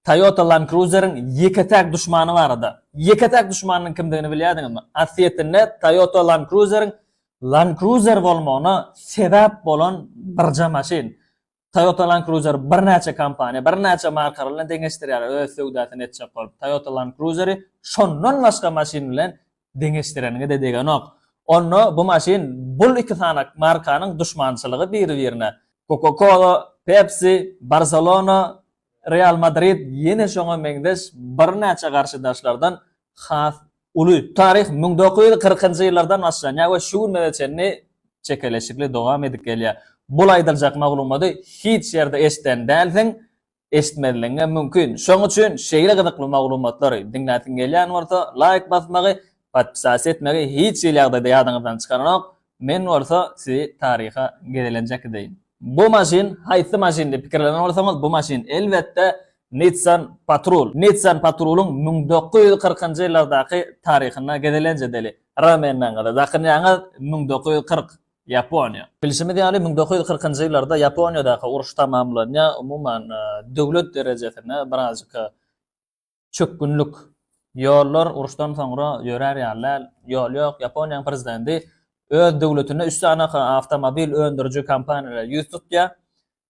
Toyota Land Cruiser-iň ýeke-täk duşmany barada. Ýeke-täk duşmanynyň kimdigini bilýärdiňizmi? Asliyetinde Toyota Land Cruiser-iň Land Cruiser bolmagyna sebäp bolan birje maşyn. Toyota Land Cruiser-i birnäçe kompaniýa, birnäçe markalar bilen deňeşdirýärler öz söwdasyny etjek bolup. Toyota Land Cruiser-i şondan başga maşyn bilen Deňeşdireniňe-de degenok. Onda bu maşyn bul iki sanak markanyň duşmançylygy biri-birine. Coca-Cola, Pepsi, Barselona, Real Madrid ýene şoňa meňzeş birnäçe garşydaşlardan has uly. Taryh müň dokuz ýüz kyrkynjy ýyllardan başlanýar we şu günlere çenli çekeleşikli dowam edip gelýär. Bul aýdyljak maglumaty hiç ýerde eşiden dälsiň, eşitmezligiňe mümkin. Şoň üçin şeýle gyzykly maglumatlary diňläsiň gelýän bolsa, laýk basmagy, podpisas etmegi hiç hili ýagdaýda ýadyňyzdan çykaranok. Men bolsa sizi taryha gezelenjek edeýin. Bu maşyn haýsy maşyn diýip pikirlenen bolsaňyz, bu maşyn elbetde Nissan Patrul. Nissan Patrulyň müň dokuz ýüz kyrkynjy ýyllardaky taryhyna gezelenç edeli. Ramennaňyza dakynýaňyz, müň dokuz ýüz kyrk. Ýaponiýa. Bilşimiz ýaly, müň dokuz ýüz kyrkynjy ýyllarda Ýaponiýadaky uruş tamamlanýar, umuman, döwlet derejesinde birazajyk çökgünlik. Ýollar uruşdan soňra ýörär ýaly däl, ýol ýok. Ýaponiýanyň prezidenti öz döwletinde üç sany awtomobil öndüriji kompaniýalara ýüz tutýar.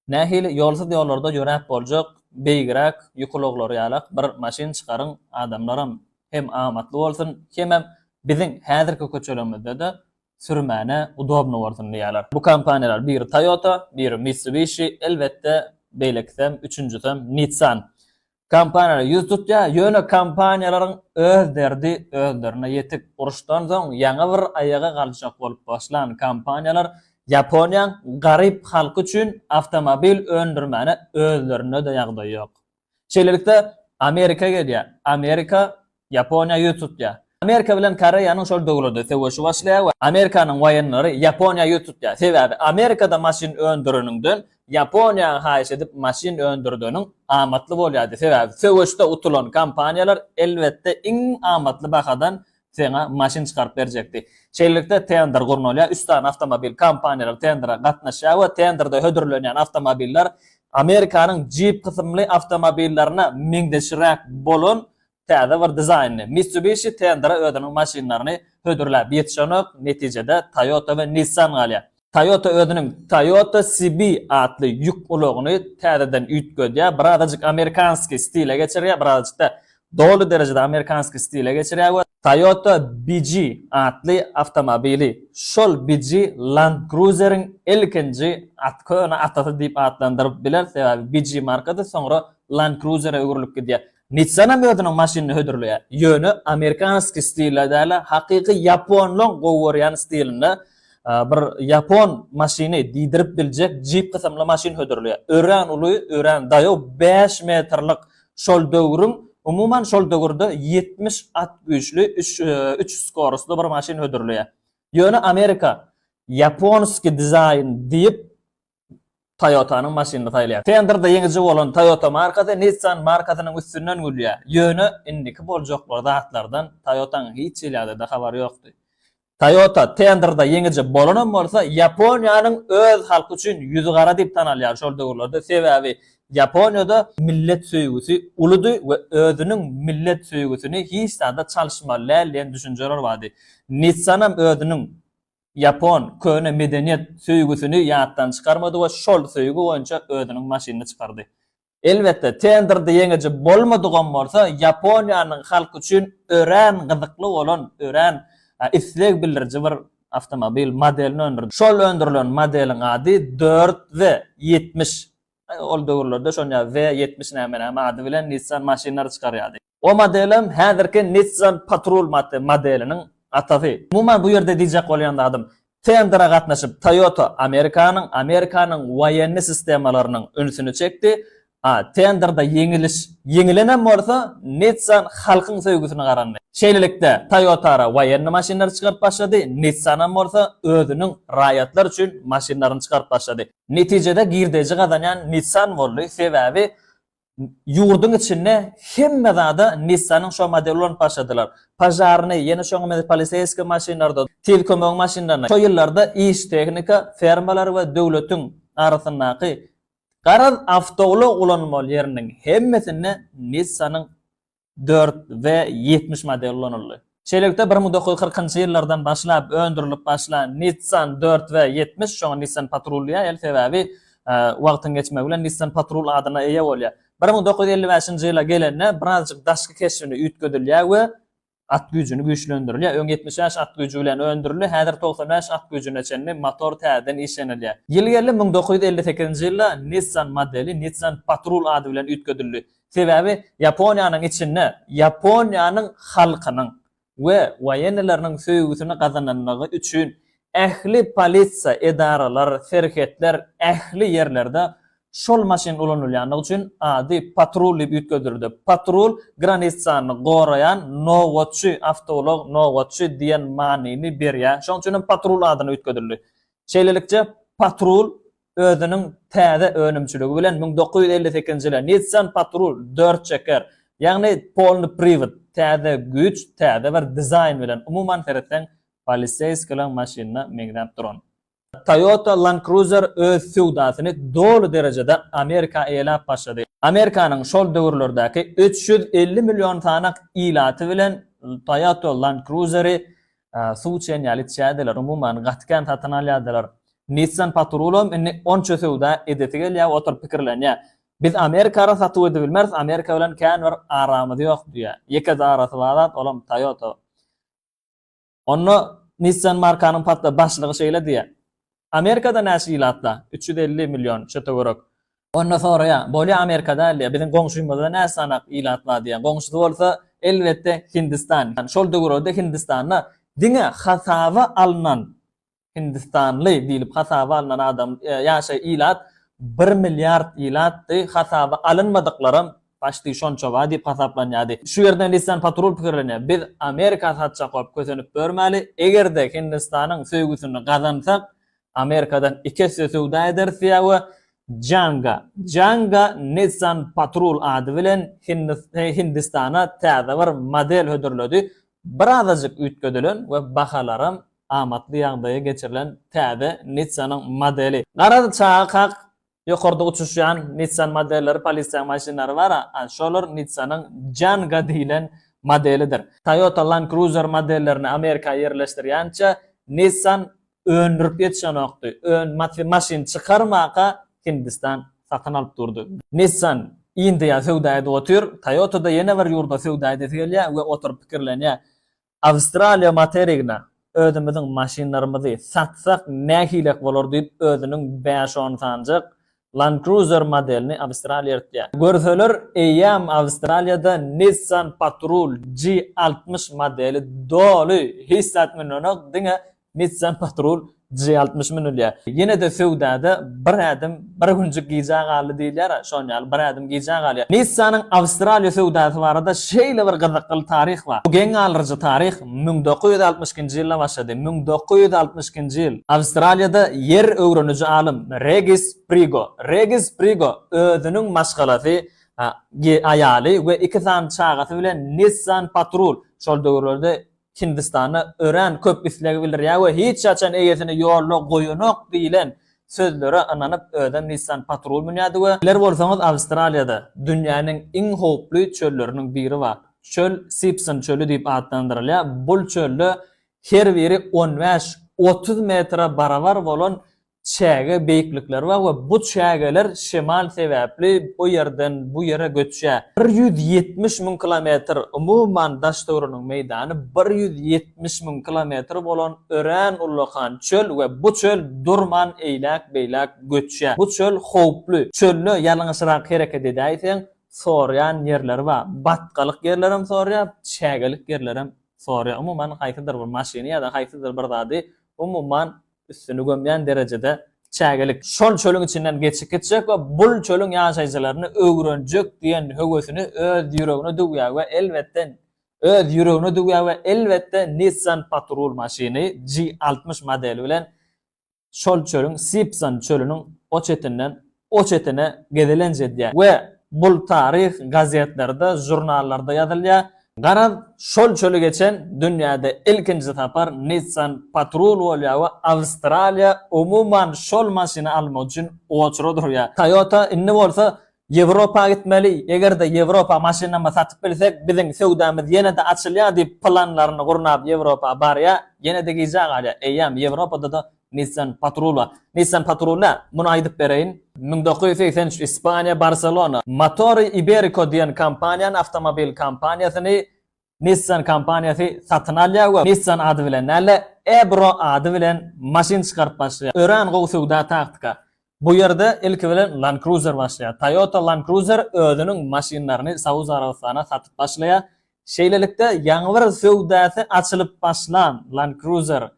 Nähili ýolsuz ýollarda ýöräp boljak, beýigräk, ýukulaglar ýalak bir maşyn çykaryň adamlaram hem amatly bolsun, hemem biziň häzirki köçelerimizde-de sürmäne udobno bolsun diýýärler. Bu kompaniýalar biri Toyota, biri Mitsubishi, elbetde beýlekisem, üçünjisem Nissan. Kompaniýalar ýüz tutýar, ýöne kompaniýalaryň öz derdi özlerine ýetik. Uruşdan soň ýaňy bir aýaga galjak bolup başlan kompaniýalar Ýaponiýaň garyp halky üçin awtomobil öndürmäne özlerinde-de ýagdaý ýok. Şeýlelikde, Amerika gelýär. Amerika Ýaponiýa ýüz tutýar. Amerika bilen Koreýanyň şol döwrede söweşi başlaýar we Amerikanyň waýenleri Ýaponiýa ýüz tutýar. Sebäbi Amerikada maşyn öndüreniňden Ýaponiýa haýyş edip maşyn öndürdeniň amatly bolýardy. Sebäbi söweşde utulan kompaniýalar elbetde iň amatly bahadan seňa maşyn çykaryp berjekdi. Şeýlelikde tender gurnalýar. Üç sany awtomobil kompaniýalary tendere gatnaşýar we tenderde hödürlenýän awtomobiller Amerikanyň Jeep kysymly awtomobillerine meňzeşräk bolan täze bir dizaýnly Mitsubishi tendere özüniň maşynlaryny hödürläp ýetişenok, netijede Toyota we Nissan galýar. Toyota özüniň Toyota CB atly ýük ulagyny täzeden üýtgedýär, birazajyk amerikanskiý stile geçirýär, birazajyk-da doly derejede amerikanskiý stile geçirýär we Toyota BG atly awtomobili şol BG Land Cruiser-iň ilkinji at, köne atasy diýip atlandyryp bileris, sebäbi BG markasy soňra Land Cruiser-e öwrülip gidýär. Nissanam özüniň maşynyny hödürleýär. Ýöne amerikanskiý stilde däl-de, hakyky ýaponlaň gowy görýän stilinde bir ýapon maşyny diýdirip biljek Jeep kysymly maşyn hödürleýär. Örän uly, örän daýaw, bäş metrlik şol döwrüň, umuman şol döwürde ýetmiş at güýçli üç üç skorusly bir maşyn hödürleýär. Ýöne Amerika ýaponskiý dizaýn diýip Toyota-nyň maşynyny saýlaýar. Tenderda ýeňiji bolan Toyota markasy Nissan markasynyň üstünden gülýär. Ýöne indiki boljak bir zatlardan Toyota-nyň hiç hilerde-de habary ýokdy. Toyota tenderda ýeňiji bolanam bolsa, Ýaponiýanyň öz halky üçin ýüzi gara diýip tanalýar şol döwürlerde, sebäbi Ýaponiýada millet söýgüsi uludy we özüniň millet söýgüsini hiç zada çalyşmaly däl diýen düşünjeler bardy. Nissanam özüniň Ýapon köne medeniýet söýgüsini ýatdan çykarmady we şol söýgi boýunça özüniň maşynyny çykardy. Elbetde, tenderde ýeňiji bolmadygam bolsa, Ýaponiýanyň halky üçin örän gyzykly bolan, örän isleg bildiriji bir awtomobil modelini öndürdi. Şol öndürilen modeliň ady dört Z ýetmiş Ol döwürlerde şonýa W ýetmiş näme näme ady bilen Nissan maşynlary çykarýardy. O modelem häzirki Nissan Patrol modeliniň atasy. Umuman bu ýerde diýjek bolýan zadym, tendere gatnaşyp Toyota Amerikanyň, Amerikanyň woýenni sistemalarynyň ünsüni çekdi. A tenderde ýeňiliş, ýeňilenem bolsa, Nissan halkyň söýgüsine garandy. Şeýlelikde, Toyota-ra woýenni maşynlary çykaryp başlady, Nissanam bolsa özüniň raýatlar üçin maşynlaryny çykaryp başlady. Netijede girdeji gazanýan Nissan boldy, sebäbi ýurduň içinde hemme zada Nissan-yň şo modeli ulanyp başladylar. Požarnyý, ýene şoňa meňzeş poliseýskiý maşynlarda, tiz kömegiň maşynlarynda şo ýyllarda iş tehnika, fermalar we döwletiň arasyndaky, garaz, awtoulag ulanmaly ýeriniň hemmesinde Nissan-yň dört we ýetmiş model ulanyldy. Şeýlelikde, bir müň dokuz ýüz kyrkynjy ýyllardan başlap öndürilip başlan Nissan dört we ýetmiş, şoňa Nissan Patrol diýäýeli, sebäbi wagtyň geçmegi bilen Nissan Patrol adyna eýe bolýar. Bir müň dokuz ýüz elli bäşinji ýyla gelende birazjyk daşky keşbini üýtgedilýär we at güýjüni güýçlendirilýär. Öň ýetmiş bäş at güýji bilen öndürildi, häzir togsan bäş at güýjüne çenli motor täzeden işlenilýär. Ýyl geldi, müň dokuz ýüz elli sekizinji ýylda Nissan modeli Nissan Patrol ady bilen üýtgedildi. Sebäbi Ýaponiýanyň içinde Ýaponiýanyň halkynyň we waýenneleriniň söýgüsini gazananlygy üçin ähli polisiýa edaralar, serhetler, ähli ýerlerde şol maşyn ulanylýanlygy üçin ady patrul diýip üýtgedildi. Patrul granissany goraýan nobatçy, awtoulag nobatçy diýen manyny berýär. Şonuň üçin hem patrul adyna üýtgedildi. Şeýlelikde, patrul özüniň täze önümçiligi bilen müň dokuz ýüz elli sekizinji ýyla Nissan Patrol dört çeker, ýagny polny priwod, täze güýç, täze bir dizaýn bilen, umuman seretseň, poliseýskilaň maşynyna meňzäp duran. Toyota Land Cruiser öz söwdasyny doly derejede Amerika eýeläp başlady. Amerikanyň şol döwürlerdäki üç ýüz elli million sanyk ilaty bilen Toyota Land Cruiser-i suw içen ýaly içýärdiler, umuman, gaty kän satyn alýardylar. Nissan Patrulam indi onça söwda edesi gelýär, oturyp pikirlenýär. Biz Amerikara satuw edibilmeris, Amerika bilen kän bir aramyz ýok diýýär. Ýekeje arasy bar zat, olam Toyota. Onda Nissan markanyň başlygy şeýle diýýär, Amerikada näçe ilatla? Üç ýüz elli million, şo töwerek. Onda soraýar, bolýa Amerika däldiýä, biziň goňşymyzda näçe sanak ilat bar diýä. Goňşusy bolsa, elbetde, Hindistan. Şol döwürlerde Hindistanda diňe hasaba alnan hindistanly diýlip hasaba alnan adam, ýaşa ilat bir milliard ilatdy, hasaba alynmadyklaram Başdy şonça ba diýip hasaplanýardy. Şu ýerde Nissan Patrul pikirlenýär, biz Amerika satjak bolup kösenip ýörmäli, eger-de Hindistanyň söýgüsini gazansak, Amerikadan iki esse söwda ederis diýýär we Janga, Janga Nissan Patrul ady bilen Hindistana täze bir model hödürledi, birazajyk üýtgedilen we bahalaram amatly ýagdaýa geçirilen täze Nissanyň modeli. Garaz, çaga kak Ýokarda uçuşýan Nissan modelleri polisiýaň maşynlary bar, şolar Nissanyň Janga diýlen modelidir. Toyota Land Cruiser modellerini Amerika ýerleşdirýänçä Nissan öndürip ýetişenokdy. Öň maşyn çykarmaka Hindistan satyn alyp durdy. Nissan Indiýa söwda edip otyr, Toyota-da ýene bir ýurda söwda edesi gelýär we oturyp pikirlenýär. Awstraliýa materigine özümiziň maşynlarymyzy satsak nähilek bolar diýip özüniň bäş-on sanjak Land Cruiser modelini Awstraliýa eltýär. Görseler eýýäm Awstraliýada Nissan Patrol G altmyş modeli doly hiç zat münenok diňe Nissan Patrol J altmyş münülýär. Ýene-de söwdada bir ädim, bir günjük gijä galdy diýilýär-ä, şon ýaly bir ädim gijä galýar. Nissan-yň Awstraliýa söwdasy barada şeýle bir gyzykly taryh bar. Bu geň galryjy taryh müň dokuz ýüz altmyş ikinji ýylda başlady. Müň dokuz ýüz altmyş ikinji ýyl. Awstraliýada ýer öwreniji alym Regis Prigo, Regis Prigo özüniň maşgalasy, aýaly we iki sany çagasy bilen Nissan Patrol, şol döwürlerde Hindistanda örän köp isleg bildirýär we hiç haçan eýesini ýolda goýanok diýlen sözlere ynanyp özem Nissan Patrol münýärdi we Biler bolsaňyz Awstraliýada dünýäniň iň howply çölleriniň biri bar. Çöl Sipson çöli diýip atlandyrylýar. Bul çölde her biri on bäş, otuz metre barabar bolan çäge beýiklikleri bar we bu çägeler şemal sebäpli o ýerden bu ýere göçýär. Bir ýüz ýetmiş müň kilometr, umuman daş-töweregiň meýdany bir ýüz ýetmiş müň kilometr bolan örän ullakan çöl we bu çöl durman eýläk-beýläk göçýär. Bu çöl howply. Çölde ýalňyşrak hereket edäýseň, sorýan ýerleri bar. Batgalyk ýerlerem sorýar, çägelik ýerlerem sorýar. Umuman, haýsydyr bir maşyny ýa-da haýsydyr bir zady umuman üstüni gömýän derejede çägelik. Şol çölüň içinden geçip gitjek we bul çölüň ýaşaýjylaryny öwrenjek diýen höwesini öz ýüregine düwýär we elbetde öz ýüregine düwýär we elbetde Nissan Patrul maşyny G altmyş modeli bilen şol çölüň Sipsan çölüniň o çetinden o çetine gezelenç edýär we bul taryh gazetlerde, žurnallarda ýazylýar. Garaz, şol çöli geçen dünýäde ilkinji sapar Nissan Patrol bolýar we Awstraliýa umuman şol maşyny almak üçin oçura durýar. Toyota indi bolsa Ýewropa gitmeli, eger-de Ýewropa maşynamy satyp bilsek, biziň söwdamyz ýene-de açylýar diýip planlaryny gurnap Ýewropa barýar, ýene-de gijä galýar. Eýýäm Ýewropada-da Nissan Patrula Nissan Patrula, muny aýdyp bereýin, müň dokuz ýüz segsen üç Ispaniýa, Barselona, Motori Iberico diýen kompaniýany, awtomobil kompaniýasyny Nissan kompaniýasy satyn alýar we Nissan ady bilen däl-de, Ebro ady bilen maşyn çykaryp başlaýar. Örän gowy söwda taktika. Bu ýerde ilki bilen Land Cruiser başlaýar. Toyota Land Cruiser özüniň maşynlaryny Saud Arabystana satyp başlaýar. Şeýlelikde, ýaňy bir söwdasy açylyp başlan Land Cruiser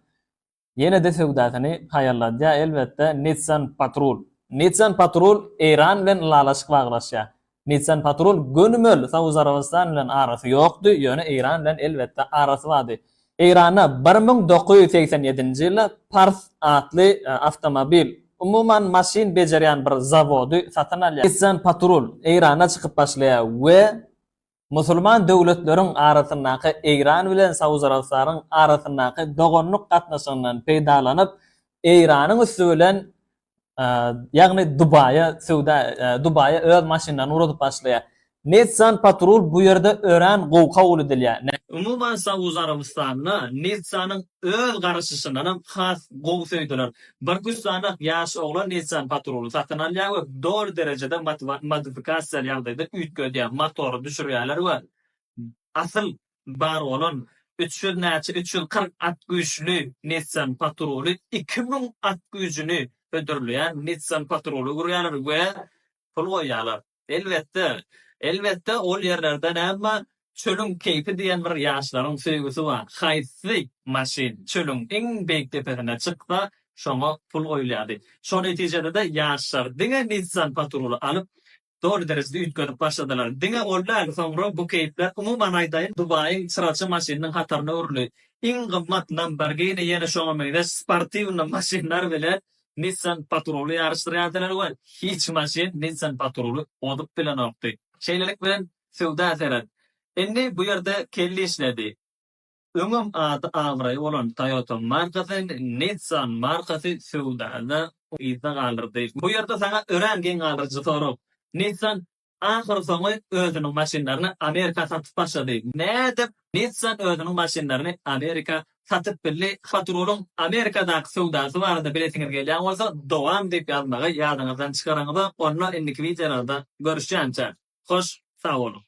Ýene-de söwdasyny haýalladýar, elbetde, Nissan Patrol. Nissan Patrol Eýran bilen ylalaşyk baglaşýar. Nissan Patrol gönümel Saud Arabystan bilen arasy ýokdy, ýöne Eýran bilen, elbetde, arasy bardy. Eýranda bir müň dokuz ýüz segsen ýedinji ýylda Pars atly awtomobil, umuman, maşyn bejerýän bir zawody satyn alýar. Nissan Patrol Eýranda çykyp başlaýar we Musulman döwletleriň arasyndaky Eýran bilen Saud Arabystanyň arasyndaky doganlyk gatnaşygyndan peýdalanyp, Eýranyň üsti bilen, ýagny Dubaýa söwda, Dubaýa öz maşynlaryny ugradyp başlaýar. Nissan Patrol bu ýerde örän gowy kabul edilýär. Umuman, Saud Arabystanyna Nissanyň öz garaşyşyndanam has gowy söýdüler. Bir güssanak ýaş oglan Nissan Patrol-y satyn alýar we doly derejede modifikasiýaly ýagdaýda üýtgedýär, motory düşürýärler we asyl bar bolan üç ýüz näçe üç ýüz kyrk at güýçli Nissan Patrol-y iki müň at güýjüni hödürleýän Nissan Patrol-a urýarlar we pul goýýarlar. Elbetde, elbetde ol ýerlerde näme çölüň keýpi diýen bir ýaşlaryň söýgüsi bar. Haýsy maşyn çölüň iň beýik depesine çyksa, şoňa pul goýulýardy. Şo netijede-de ýaşlar diňe Nissan Patruly alyp, doly derejede üýtgedip başladylar. Diňe ol däl, soňra bu keýpler umuman aýdaýyn Dubaýyň çyraçy maşynynyň hataryna öwrüldi. Iň gymmat Lamborghini ýene şoňa meňzeş sportiwny maşynlar bilen Nissan Patrol-y ýaryşdyrýardylar we hiç maşyn Nissan Patrol-y ozup bilenokdy. Şeýlelik bilen söwda seret. Indi bu ýerde Kelli işledi. Öňem ady-abraýy bolan Toyota markasy, Nissan markasy söwdada yzda galyrdy. Bu ýerde saňa örän geň galdyryjy sorag. Nissan Ahyrsoňy özüniň maşynlaryny Amerika satyp başlady. Nädip Nissan özüniň maşynlaryny Amerika satyp bildi? Hot-Rulyň Amerikadaky söwdasy barada bilesiňiz gelýän bolsa, dowam diýip ýazmagy ýadyňyzdan çykaraňyz-a, onda indiki wideolarda görüşýänçä, hoş sag boluň!